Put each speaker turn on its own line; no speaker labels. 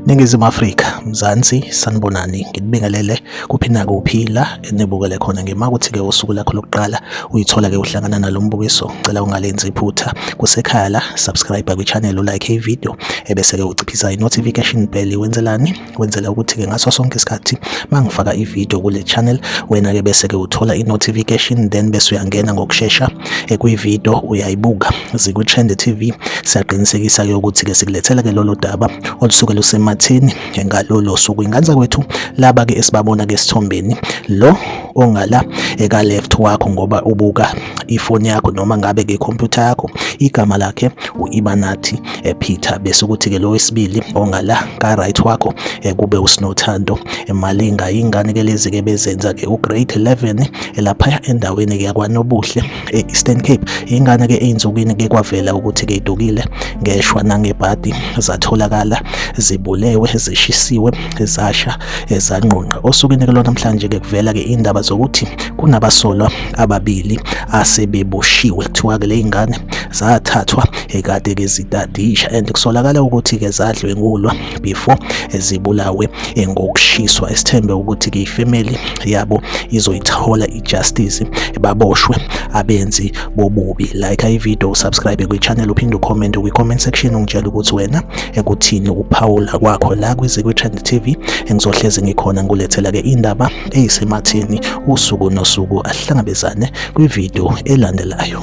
Ningizimu Afrika, Mzansi, sanibonani, nginibingelele kuphi nakuphi la enibukele khona ngima ukuthi-ke usuku lakho lokuqala uyithola-ke uhlangana nalo mbukiso, cela ungalenzi iphutha. Kusekhaya la, subscribe kwi-channel, ulike ividiyo ebese-ke uciphisa i-notification bell, wenzelani? wenzela ukuthi-ke ngaso sonke isikhathi uma ngifaka ividiyo kule channel wena-ke bese-ke uthola i-notification then bese uyangena ngokushesha ekwividiyo uyayibuka zikwi-trend tv siyaqinisekisa-ke ukuthi-ke sikulethela-ke lolo daba olusuke lusematheni ngalolo suku inganza kwethu laba-ke esibabona-ke esithombeni lo ongala eka-left wakho ngoba ubuka ifoni yakho noma ngabe-ke ikhompyutha yakho igama lakhe u-ibanathi ephitha bese ukuthi ke lo wesibili ongala ka right wakho kube usinothando emalinga ingane ke lezi ke bezenza ke u grade 11 elapha endaweni ke yakwanobuhle e Eastern Cape ingane ke einzukini ke kwavela ukuthi ke idukile ngeshwa nangebhadi zatholakala zibulewe zishisiwe zasha ezanqonqa osukwini ke lona namhlanje ke kuvela ke indaba zokuthi kunabasolwa ababili asebeboshiwe kuthiwa ke le ingane zathathwa ekade ke zitadisha and kusolakala ukuthi ke zadlwengulwa before zibulawe ngokushiswa esithembe ukuthi ke ifamily yabo izoyithola ijustice baboshwe abenzi bobubi like i video subscribe kwi channel uphinde ucomment kwi comment section ungitshela ukuthi wena ekuthini uphawula kwakho la kwizikwi trend tv engizohlezi ngikhona ngulethela ke indaba eyisematheni usuku nosuku ahlangabezane kwi video elandelayo